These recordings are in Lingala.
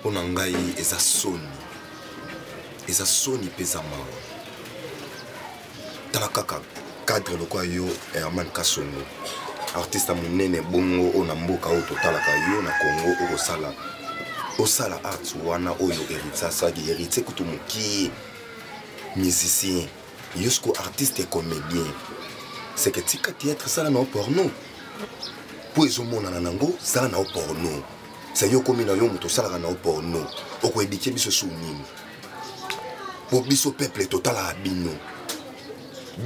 mpo na ngai eza soni eza soni mpe eza mawa tala kaka cadre lokola yo herman kasongo artiste ya monene bongo oyo na mboka oyo totalaka yo na congo okosala osala art wana oyo héritier asalaki héritier kutu mokie musicien yo siko artiste comédien seke tika théâtre sala na yo porno mpo ezomonana nango sala na yo porno se yo okomi na yo moto osalaka na yo porno okoedike biso su nini mpo biso peuple totalaka bino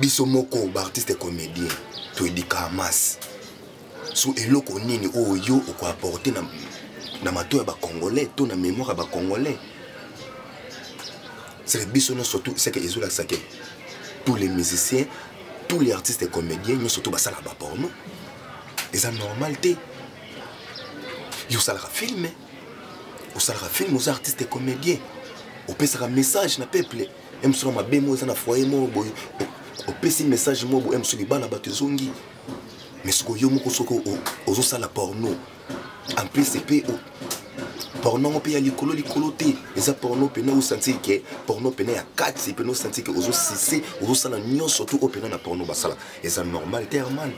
biso moko baartiste comédien toyedika hamas so eloko nini oyo yo okoaporte na, na mato ya bacongolais to na mémoire ya bacongolais seke biso nyonso tu seke ezolakisa ke tous les musiciens tous les artistes comédiens nyonso tu basala baporno eza normal te yo osalaka filme osalaka filme oza artiste comédien opesaka message na peuple emsona mabe moko eza na foye moko boye opesi message moko boye emso libala bato ezongi mais soko yo moko soki ozosala porno en plus epe porno yango mpe ya likolo likolo te eza porno mpena osanti ke porno mpena ya kati mpena osanti ke ozosise ozosala nyonso to oyo mpena na porno basala eza normal te hermane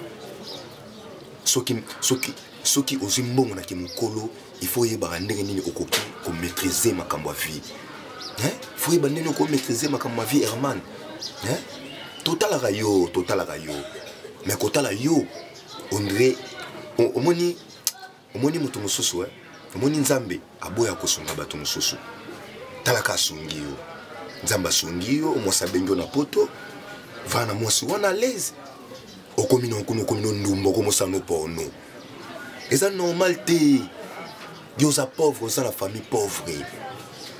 soki soki soki ozwi mbongo na kimokolo il faut oyebaka ndenge nini okoki komaîtrise makambo ya vie faut oyeba ndenge nini okomaîtrise makambo ya vie herman totalaka yo totalaka yo mais kotala yo ondre omoni omoni moto mosusu eh? omoni nzambe aboya kosunga bato mosusu talaka asungi yo nzambe asungi yo mwasi abengi yo na poto vana mwasi wana alaise okomi na okuna okomi no ndumba okomosano porno eza normal te yo oza pauvre oza na famille pauvre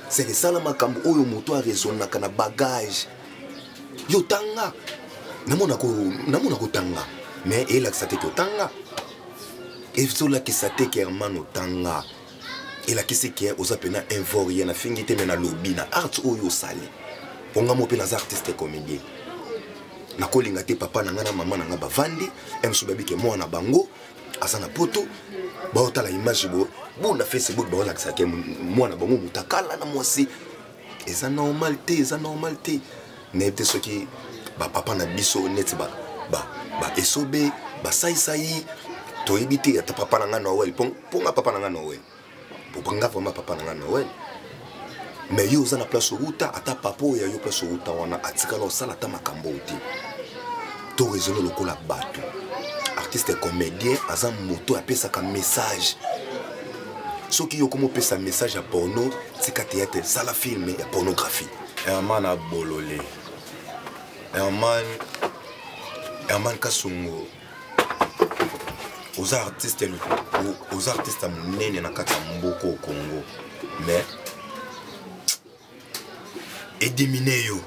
seke sala makambo oyo moto aresonnaka na bagage yo tanga namona kotanga mais elakisa te totanga ezolakisa te ke hermane otanga elakisi ke oza mpena un vaurien nafingi te me nalobi na art oyo osali mpo nga mo mpe naza artiste comédien nakolinga te papa na ngai na mama na ngai bavandi msu babike mwana na bango aza na poto baotala image bo bona facebook baolakisake mwana bango motakala na mwasi eza normal te eza normal te nayebi te soki bapapa na biso neti baesobe ba, ba basaisai toyebi te ata papa na ngai noel mpo nga papa na ngai noel nga vraimen papa na ngai noel me yo oza na place outa ata papa oyo ya yo place outa wana atikala osala ata makambo oyo te to raisonne lokola bato artiste comédien aza moto apesaka message soki yo okomi opesa message ya porno tika teyate sala filme ya pornographie herman abolole herman herman kasungu oza artiste oza artiste ya monene na kati ya mboka o congo mais edimine yo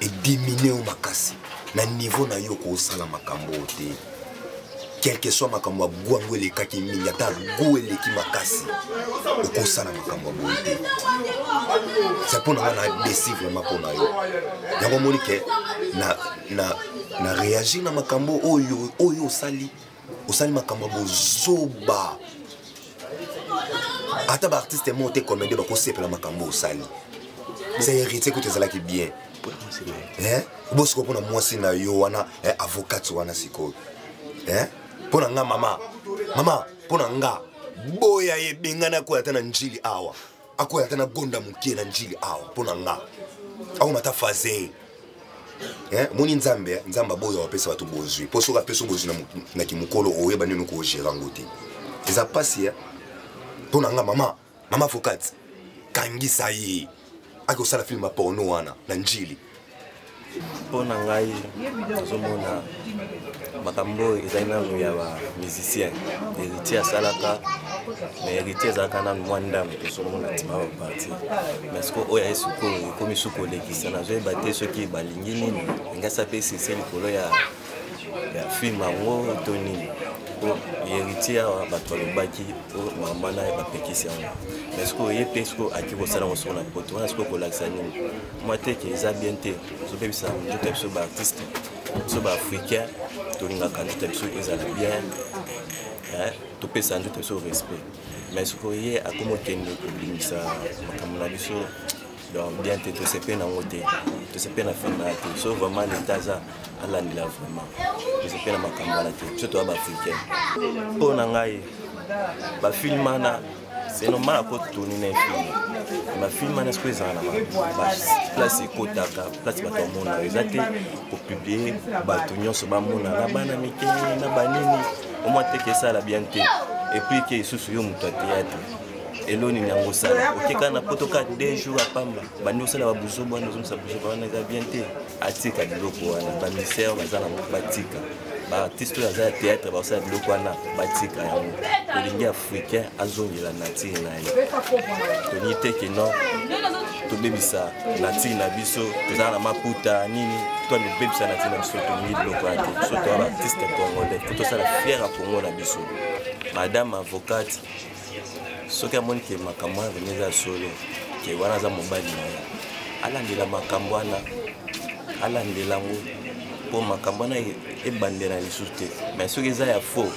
edimine yo makasi na niveau na yo kosala makambo oyo te quelque soit makambo ya gu yango elekaki mingi ata gu eleki makasi okosala makambo ya boye te se mpo na nga na desi vraiment mpo na yo yango omoni ke na, na, na réagir na makambo oyo oyo osali osali makambo ya bozoba ata baartiste moko te komende bakosepela makambo osali sa héritier kutu ezalaki bien eh? bosiko mpona mwasi na yo wana eh, avocate wana sikoyo eh? mpo na nga mama mama mpo na nga boya ye bengana koya ata na njili awa akoya ata na gonda moke na njili awa mpo na nga akoma ata faze eh, moni nzambe eh, nzambe aboyo apesa bato bozwi mpo soki apesa bozwi na kimokolo oyeba nini okogere yango te eza mpasi eh. mpo na nga mama mama fokati kangisa ye akosala filme ya porno wana na njili mpo na ngai nazomona makambo oyo ezali nanu ya bamusicien héritier asalaka mais héritier ezalaka nanu mwa ndambo tozomona ntima baparti mais siko oyo aye sikoyo ekomi su kolekisa nazoyeba te soki balingi nini engasi ape sese likolo ya film yango to nini po héritier awa bato balobaki po mama na ye bapekisi yango mais sikoyo ye mpe sikoyo aki kosala yango soko na poto wana sikoyo kolakisa nini mwa teke eza bien te ezobebisa nzoto ya biso baartiste biso baafricain tolingaka nzoto ya biso ezala bien topesa nzoto ya biso respect mais sikoyo ye akomi okende kobimisa makambo na biso donc bien te tosepe nango te tosepe na fana te so vraiment leta aza alandela vraiment tosepe na makambo wana te biso toya baafricain mpo na ngai bafilme wana c'est normal akotoni na efilme bafilme wana sikoyo ezala na place ekotaka place bato bamonaka eza te kopiblie bato nyonso bamona na bana mike na banini omwa teke esala bien te epuis ke lisusu yo moto ya théâtre elo nini yango osala okeka na poto ka deux jours apamba bandi osala babuzoba wana ozomisa buzoba wana eza bien te atika biloko wana bamisere baza na batika baartiste oyo aza ya théâtre bakosala biloko wana batika yango tolingi africain azongela nature na ye tolingi te ke non tobebisa nature na biso tozala na maputa nini to tobebisa nature na biso tolingi biloko ya te biso toya baartiste congolais po tosala fiere ya congo na biso madame avocate soki amoni ke makambo wana vraimen eza ya solo ke wana aza mobali na ye alandela makambo wana alandela yango mpo makambo wana e, ebandela lisusu te mai soki eza ya faux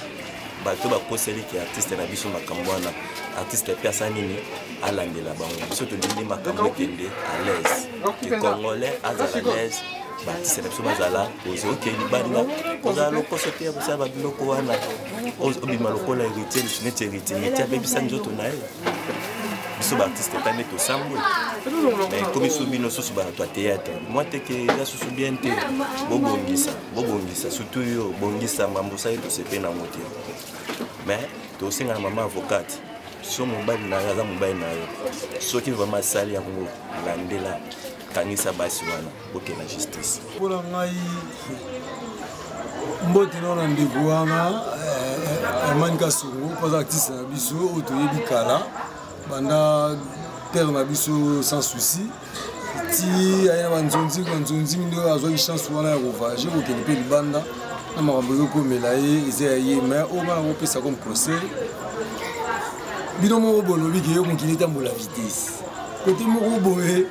bato bakoseli ke artiste na biso makambo wana artiste mpe asa nini alandela bango biso tolingi makambo ekende à l'aise ke congolais azala l'aise batise na biso bazala ozwi oke libanda kozala lokoso te ya kosala babiloko wana obima lokola héritier lisu neti héritier yeti abebisa nzoto na ye biso baartiste epai nde tosambwe mais ekomi so bino susu bato ya théâtre mwa teke eza susu bien te bobongisa bobongisa surtout yo bongisa mambo osali tosepe nango te mais tosenga na mama avocate so mobali na yo aza mobali na yo soki vraiment asali yango landela kangisa basi wana boke na justice mpo na ngai mbote nao na ndeko wana hermani eh, eh, kasongo mpo aza artiste na biso oyo toyebi kala banda père na biso sans souci ti aye na banzonzi banzonzi nde oyo azwaki chance wana ya kovage kokende mpe libanda na makambo ezokomela ye eza ya ye mai oyo bana kopesa comme conseil bino moko bolobi ke yo mokili etambola vitesse kote moko boye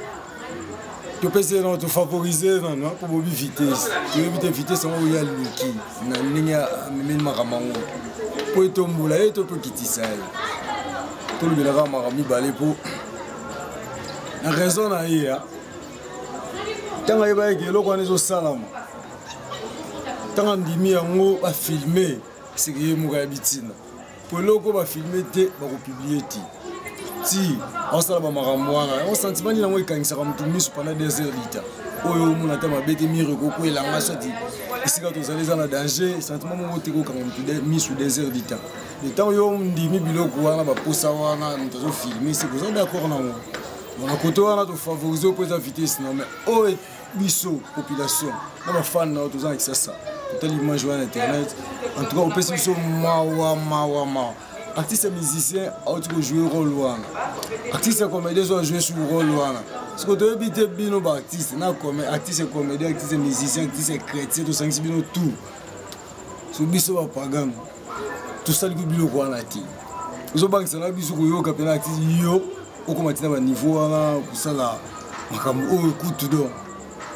topesi ye nano tofavorise nano akobobi vitesse toyebi te vitesse yango oyo aluki na ndenge amemeli makambo yango mpo etombola ye to tokitisa ye tolobelaka makambo mibale mpo na raison na ye ya ntango ayebaki eloko wana ezosalama ntango andimi yango bafilme seke ye moko ya bitina po eloko bafilme te bakopublie te ti aosala bamakambo wana yango sentiment nini yango ekangisaka motu miso panda des heures lita oyo omona ata mabe te mire ekokwela nga soti esika tozali eza na danger sentiment moko te kokanga motu miso des heures lita le ntango yo ondimi biloko wana baposa wana moto azofilme se boza d'accord nango na kote wana tofavorise mpo eza vitesse na mais oyo biso population na bafane na yo toza na kisasa totali image wana na internet en tout cas opesi biso mawa mawa mawa artiste ya musicien auti kojoue role wana artiste ya comédien ezo ajoue sur role wana siko toyebi te bino baartiste na artiste ya comédien artiste ya musicien artiste ya chrétien tosangisi bino tout so biso bapagano tosaliki biloko wana te ozobangisa na biso koyoka mpena ati yo okoma ntina baniveau wana kosala makambo oyo kutu don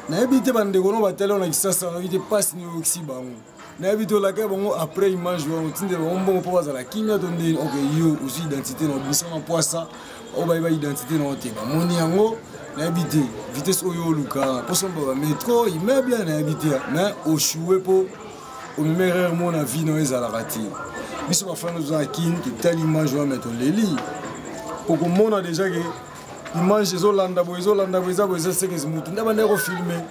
nayebi te bandeko no batali wana kisasa nayebi te mpasi nioyokisi bango nayebi te olakaki bango après image wana otindela bango mbongo mpo bazala kimia to ndeni ok yo ozwi identité na obisama mpwasa oyo bayeba identité na yo te bamoni yango nayebi te vitesse oyo oluka mposo mbaba metro immeuble nayebi te mais oshue mpo omema erreur mo na vie nayo ezalaka te biso bafana toza na kin totali image wana me toleli okomona deja ke image ezolanda boye ezolanda boye eza boye eza sekes motu nde bandaki kofilme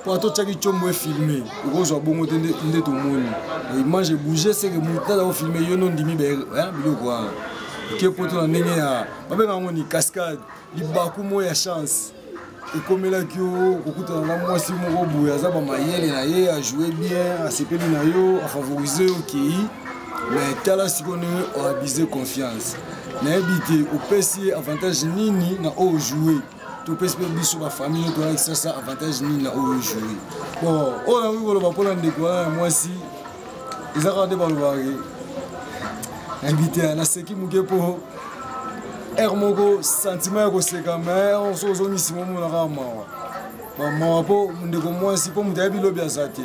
mpo ata otyaki combo efilme okozwa bongo te nde tomoni image ebouge seke motu aza kofilme yo no ndimi biloko wana ke poto na ndenge ya babenga yango ni cascade libaku mo ya chance ekomelaki yo kokutana na mwasi moko boye aza bamayele na ye ajoue bien asepeli na yo afavorise yo okei mais tala sikoyo ndenge oabuse confiance nayebi te opesi ye avantage nini na oyo joue topesi mpe biso bafamille oyo toyaki sasa avantage nini na oyo joue bon oyo nakoki koloba mpona ndeko wana ya mwasi eza kaka nde balobaki invité naseki moke mpo aire moko sentiment ya koseka ma onso ozongisi momonaka mawa mawa mpo ndeko mwasi mpo moto ayebi lobi aza te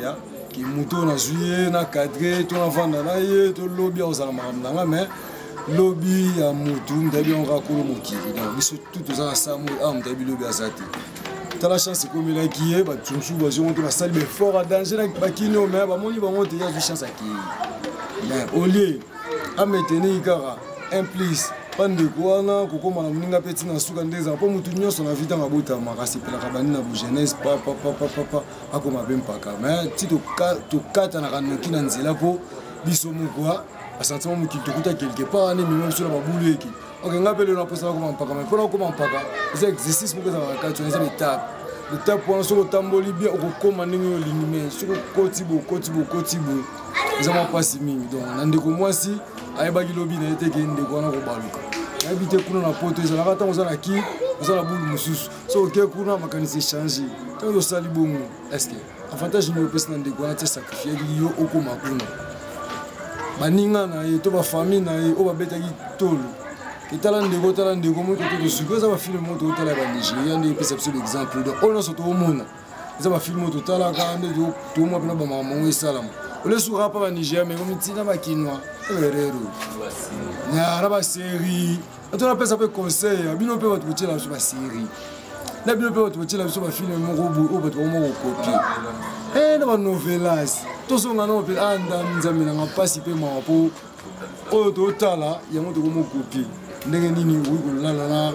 ke moto oyo nazwi ye na cadre to navanda na ye to lobi akozala makambo na nga mais lobi ya motu moto ayebi yango kaka kolo mokili donc biso tu toza na samo awa moto ayebi lobi aza te tala chance ekomelaki ye bato mosusu bazwi yango te basali baeffort ya danger na bakini oyo mai bamoni bango te ye azwi chance akei mais au lieu ametenei kaka un plus bandeko wana kokoma na moninga mpe ntina suka nde ezala mpo motu nyonso na vitanga abotamaka asepelaka bandi na bogenese papapapapapa akoma mpe mpaka mai ti tokatanaka noki na nzela mpo biso moko basentiment mokili tokuta quelque part wana emema biso na babulu eke ok ngai mpe lelo naposa nakoma mpaka mai mpo nakoma mpaka eza exercice moko ezalaka kati wana eza betape betape wana soki otamboli bien okokoma ndenge oyo olingi mai soki okoti boye okoti boye okoti boye eza mwa mpasi mingi donc na ndeko mwasi ayebaki lobi na ye te ke ndeko wana kobaluka nayebi te kuna na poto ezalaka ntango oza na ki oza na bulu mosusu so oke kuna makanisi echange ntango osali bongo eske avantage nini opesi na ndeko wana te sacrifiaki yo okoma kuna baninga na ye to bafamille na ye oyo babetaki tolo etala ndeko otala ndeko moi koto tosuki eza bafilme moko tokotala ya banigeria nde epesa biso baexemple donc oyo nyonso tokomona eza bafilme oyo totalaka nde tokomwa mpena bamaka mongo esalama olesuka mpa banigeria me omitina bakinois erero na baserie ato napesa mpe conseil ya bino mpe bato kotyela biso baserie na bino mpe bato kotyela biso bafilme moko boye oyo bato bango kokopie e na banovelas tozonga nao mpe a ndam nzambe nanga mpasi mpe mawa mpo oyo totala yango tokomokopie ndenge nini okoki kolala na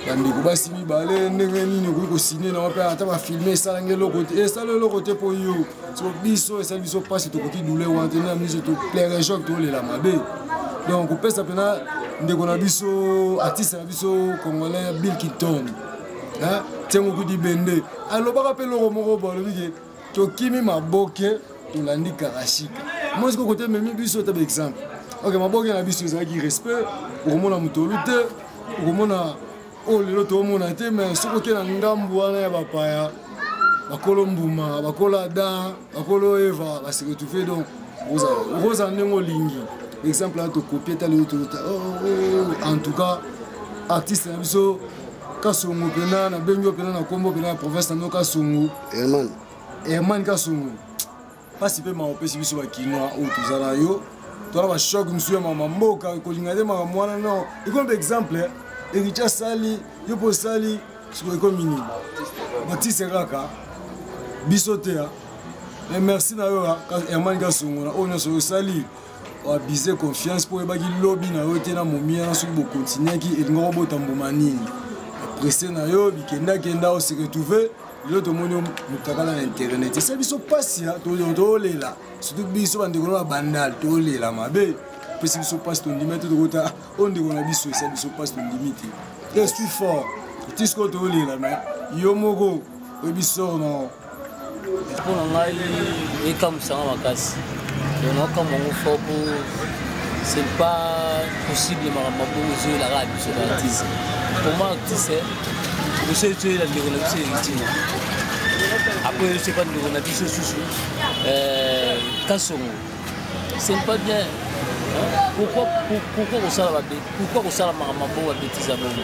bandeko basi mibale ndenge nini okoki kosine na wape ata bafilme esalanga eloko te esala eloko te mpo yo so biso esa biso mpasi tokoki dule wana te na miso to plaire joc tolela mabe donc kopesa mpena ndeko na biso artiste na biso congolais bill kinton ntiango kudi bende alobaka mpe eloko moko bo alobi ke tokimi maboke tolandi karashika moi sikoyo kote ememi biso ta baexemple ok maboke na biso ezalaki respect okomona motolu te okomona oyo oh, lelo toomona te me soki oke na ngambu wana ya bapaya bakolo mbuma bakolo adam bakolo eva basekotufe donc okozala ndenge olingi exemple ya tokopie ta lelo tolota oh, oh, en tout cas artiste na biso kasongo mpena nabengi yo mpena na nkombo mpena ya province na bino kasongo herman kasongo mpasi mpe mawa opesi biso bakinois oyo toza na yo tona bashoke mosusu ya mama mboka kolinga te makambo wana no ekomi mpe exemple eh. eriti asali yo mpo osali sikoyo ekomi nini batise kaka biso te ah. mais merci na yo ah, hermani kasongola oyo nyonso oyo osali oabize confiance mpo oyebaki lobi na yo te na momiya na soki bokontinuaki elingaki obota mbuma nini presse na yo bikendakenda oseretrouve lelo tomoni yo mutakala na internet esali biso mpasi tolela surtout biso bandeko na bandal tolela mabe epesi biso mpasi tondima te tokota oyo ndeko na biso esali biso mpasi tondimi te te suis fort ti sikoyo tolela me yo moko oyebi sor no mpo na ngai ekamusanga makasi naokamwa yango fort po c'est pas possible makambo bongo ezoyelaka biso baartiste pour moi artiste Kusei tuela ndeko na biso Elistina. Après je sais pas ndeko na biso susu euh Kasongo. C'est pas bien. Pourquoi pourquoi on sala babe? Pourquoi on sala makambo ba bêtise abongo?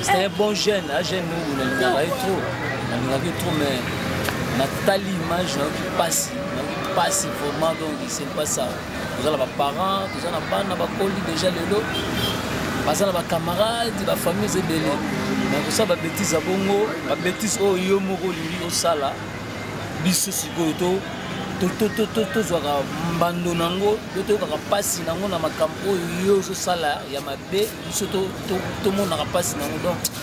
C'est un bon jeune, un jeune nous on l'a trop. On l'a trop mais natali image nayoki mpasi nayoki mpasi vraiment donc c'est pas ça toza na baparent toza na bana bakoli deja lelo baza na bacamarade bafamille eza ebele na kosala babetise ya bongo babetise oyo yo moko olingi osala biso sikoyo to tozwaka mbando na yango to toyokaka mpasi na yango na makambo oyo yo ozosala ya mabe biso tomonaka mpasi na yango donc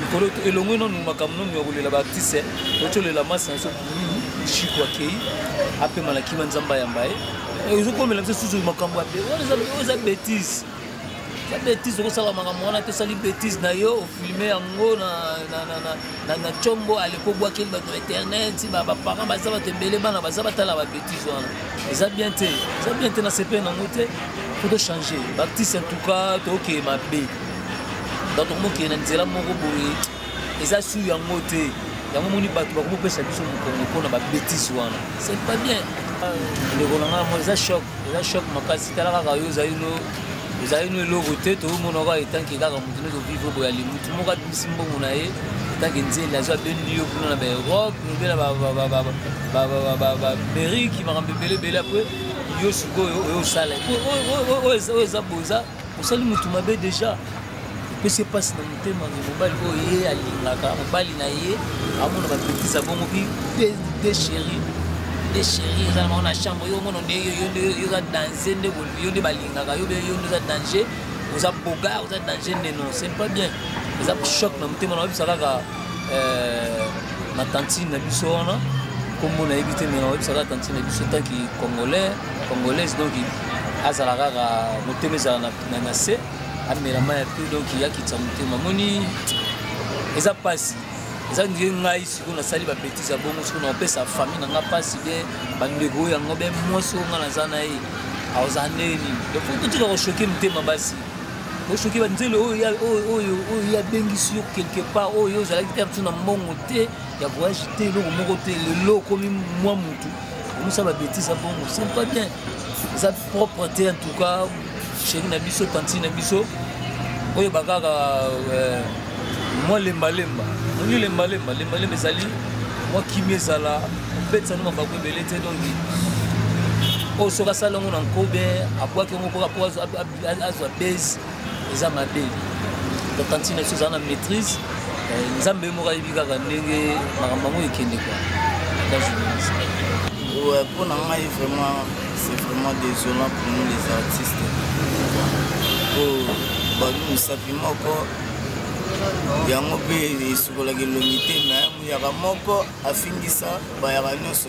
likolo elongwe nanu makambo nanu ya kolela baartiste ocolela masi na biso shiko akei apema na kima nzambe ayamba ye eh, ezokomela biso susu makambo ya eza betise eza betise okosala makambo wana te osali betise na yo ofilme yango na combo aleko obwakeli bato na internet baparent baza bato ebele bana baza batala babetise wana eza bien te eza bien te na sepe nango te po tochange baartiste en tout cas toke mabe bato komokende na nzela moko boye eza sur yango te yango moni bato bakomopesa biso mokongo mpo na babetise wana c'est pas bien ndeko na ngai mo eza choc eza choc makasi tala kaka yo ozali no ezali no eloko te toomona kaka etanke kaka moto nde tovivre boye ali motu moko abimisi mbongo na ye etanke nzeli azwi abendi yo kuna na baeurope lobe na baamerike makambo ebele ebele apres yo sikoyo oyo osala oyo eza boza osali motu mabe deja epesi mpasi na motema nge mobali oyo ye alingaka mobali na ye amona bapetise abongo bi desheri desheri eza na bango na chambre yo omono nde yoza danse nde yo nde balingaka yo yo nde oza danger oza boga oza danger nde non c'est pas bien eza choc na motema na oyebisa kaka euh, na tantine na biso wana nkombo nayebi te me na oyebisa kaka tantine na biso tanki congolais congolaise donc azala kaka motema ezala na na se amela mai ya mpe donc yakitisa motema moni eza mpasi eza ndie ngai sikoyo nasali babetise ya bongo sikoyo naopesa famille na ngai mpasi be bandeko oyo yango be mwasi oyo ngai naza na ye aoza ndenge nini donc fo totika koshoke motema basi osoki banzela oyo oyo abengisi yo quelque part oyo ozalaki te na mbongo te ya voyage te eloko moko te lelo okomi mwa motu omosala babetise bongo c'est pas bien eza propre te en tout cas chéri na biso tantine na biso oyeba kaka euh, mwa lembalemba olingi lembalemba lembalemba ezali mwa kimi ezala obetisa no mabaku ebele te donki oyo soki asali yango na nkobe abwaki yango mpoka mpo azwa base eza mabe tantine biso eza na maîtrise eh, nzambe ye moko ayebi kaka ndenge makambo yango ekende kwa ata journaliste mpo na ngai vraiment c'est vraiment désolant pour nous les artistes po babi mosapi moko yango mpe esukolaka elongi te me muyaka moko afingisa bayaka nyonso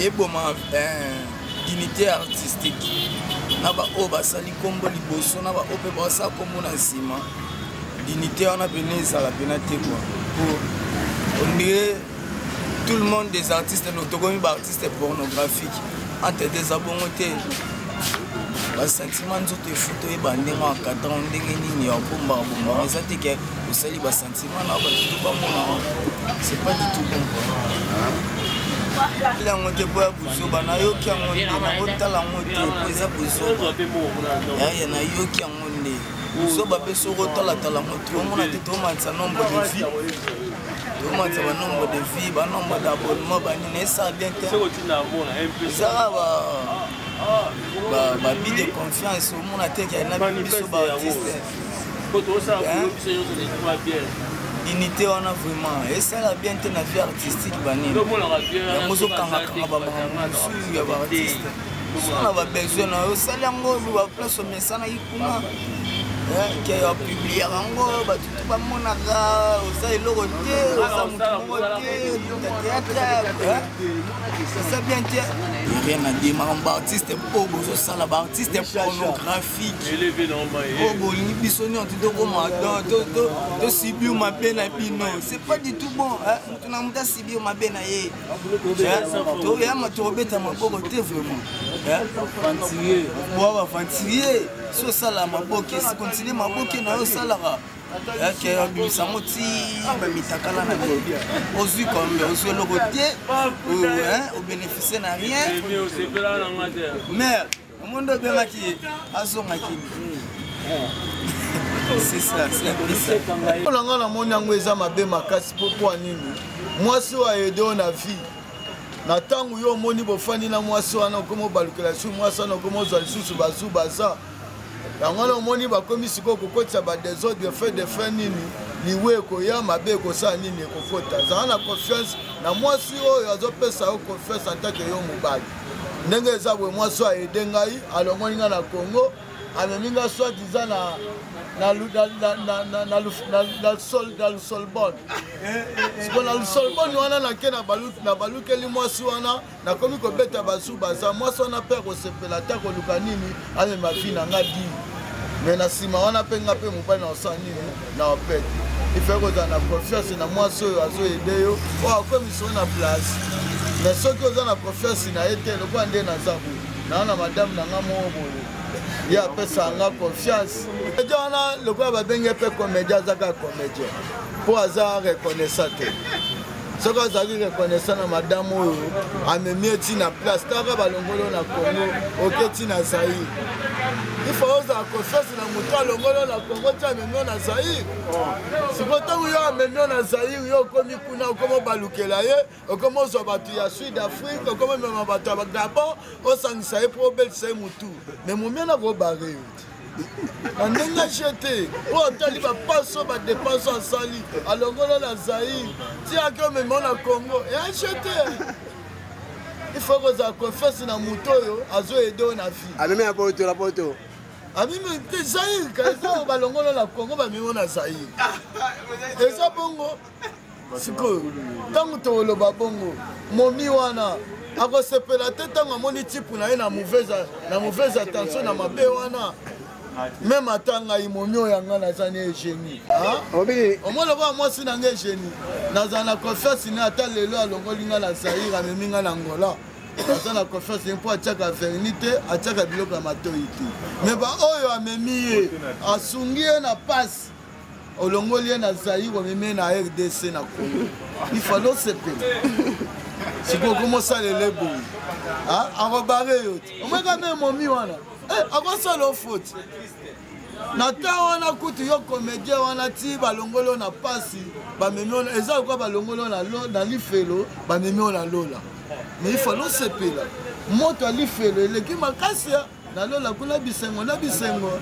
eboma dignité artistique na baoyo basali nkombo liboso na baoyo mpe basala nkombo na nsima dignité wana mpena ezala mpena te kua po ondire tout le monde des artistes tokomi baartiste pornographique entre te eza bongo te basentiment nzoto efuta oyeba ndenge ya cadran ndenge nini ya bombaka bombaka eza te ke osali Sima na bato tu bamona c'est pas du tout bon yango te mpo ya buzoba nayoki yango nde nakotala yango te mpo eza buzoba yaya nayoki yango nde buzoba mpe soko otalatala yango te omona te tomatisa nombre de vie tomatisa banombre de vie banombre d'abonnement banini esala bien te ezaka ba babide confiance omona te kena biso baartiste dignité wana vraiment esala bien te na vie artistique banini yango ozokangakanga bamakambo mosusu ya baartiste so na babesoin na yo osali yango baplace omesanaki kuna ke opubliaka yango bato tu bamonaka oza eloko te oza motu moko te teatre oza bien te rien na de makambo baartiste mpo bozosala baartiste pornographie oyo bolingi biso nyonso tokoma tosibio mabe na bino c'est pas du tout bon moto na moto asibio mabe na ye toyama tokobeta maboko te vraiment boa baventurier si osala maboke si continue maboke na yo osalaka yake abimisa yango ti bamitakala na te ozwi kombe ozwi eloko te obénéficie na rien mère yango nde obengaki ye azonga kini olanga namoni yango eza mabe makasi mpo mpo nini mwasi oyo ayede oyo na vie na ntango yo omoni bofandi na mwasi wana okoma obalukela lisusu mwasi wana okoma ozwa lisusu bazu baza yango wana omoni bakomi sikoyo kokotisa badesordre fe de fe nini liwe ekoya mabe ekosala nini ekokota zala na confiance na mwasi oyo azopesa yo confiance atake yo mobali ndenge eza boye mwasi oyo aede ngai alongoli ngai na congo amemi ngai soit diza na na lusolbone siko na lusolbone wana nake na balukeli mwasi wana nakomi kobeta basu baza mwasi wana mpe akosepela ata koluka nini amema vi na ngai dii me na nsima wana mpe ngai mpe mobali na osala nini na opete ifai kozala na confiance na mwasi oyo azoyede yo oyo akomisa na place me soki oza na confiance na ye te lokola nde naza boye naa na madame na nga moko boye ye apesa nga confiance eja wana lokola babenge mpe comédien azaka comédien mpo aza reconnaissant te soki azalaki reconnaissant na madame oyo amemi ye ti na place taka balongoli yo na congo oke ti na zaire ifo ozala confiance na moto alongoli yo na congo ti amemi yo na zaire siko ntango yo amemi yo na zaire yo okomi kuna okomi obalukela ye okomi ozwa bato ya sud afrique okomi omema bato ya gabon osangisa ye mpo obelisa ye motu me momia na kobare yo na ndenge aje te mpo atali bapaso badepense asali alongola na zaire ti ake omema na congo e aje te ifo kozala confiance na moto oyo azoyede oyo na vie amemi ya poto na poto amimi te zaire ka eza balongola na congo bamimo na zaire eza bongo sikoyo ntango tokoloba bongo momi wana akosepela te ntango amoni tipu na ye na mauvaise attention na mabe wana meme ata ngai momi oyo yanga naza na egenie ah? omoni lokola mwasi na ngai egenie nazala na confiance ne ata lelo alongoli ngai na zaire amemi ngai na angola aza na confiance ye mpo atiaka verni te atiaka biloko ya matoi te me baoyo amemi ye asungi ye na pasi olongoli ye na zaire omemi na rdc na congo ifale osepela sikoyo komosalela eboyi akobare yo te omweka me momi wana eh, akosala ofoti na ntango wana kutu yo komedien wana ti balongoli yo na mpasi bamemi ona eza lokola balongoli yo na lifelo bamemi yo na lola mais ifale osepela moto ya lifelo eleki makasi na lola kuna bisengo na bisengo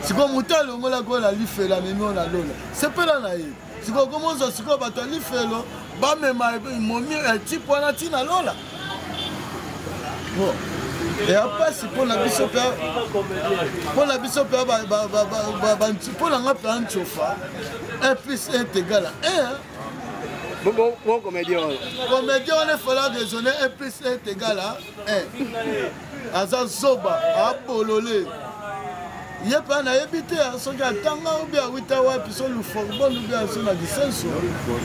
sikoyo moto alongola kola lifelo amemi oyo na lola sepela na ye sikoyo komonza sikoyo bato ya lifelo bamema momi etipe eh, wana ntina lola eya mpasi mpo na biso mpe mpo na biso mpe mpo na nga mpe ancofa un plus un tegala un bon comédien wana comédien wana efala raisonne un plus un tegala un aza zoba abolole ye mpe nayebi te soki atanga obi awita wapi so luforbon obi aso na lisenso